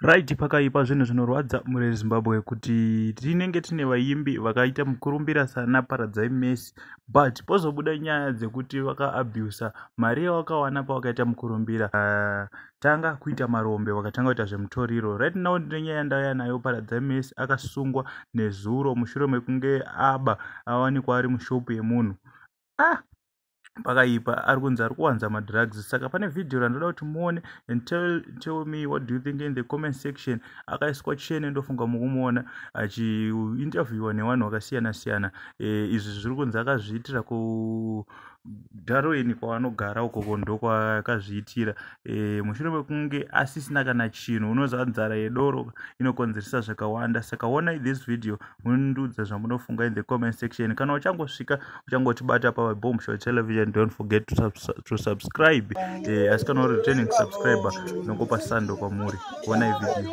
right pakaipa zvinhu zvinorwadza mune zimbabwe kuti tinenge tine vaimbi vakaita mukurumbira sana paradzai mesi but pozobuda nyaya dzekuti vakaabusa mari yavakawana pavakaita mukurumbira uh, tanga kuita marombe vakatanga kuita zvemutoriro right now ndine nyaya yandauya nayo paradzai mesi akasungwa nezuro mushure mekunge aba avanikwa ari mushopu yemunhu ah pakaipa ari kunzi ari kuwanza madrugs saka pane vhidhiyo randoda kuti muone and tell, tell me what do you think in the comment section akaiswa chene ndofunga mukumuona achiinterviewa nevanhu vakasiyana siyana e, izvi zviri kunzi akazviitira ku darwin kwavanogara uko kondo kwakazviitira e, mushure mekunge asisina kana chinhu unoziva nzara yedoro inokonzeresa zvakawanda saka onai this video mundiudza zvamunofunga in the comment section kana uchangosvika uchangotibata pa bomb show television don't forget to, subs to subscribe eh, asi kana uri returning subscriber nongopa sando kwamuri kuona ivideo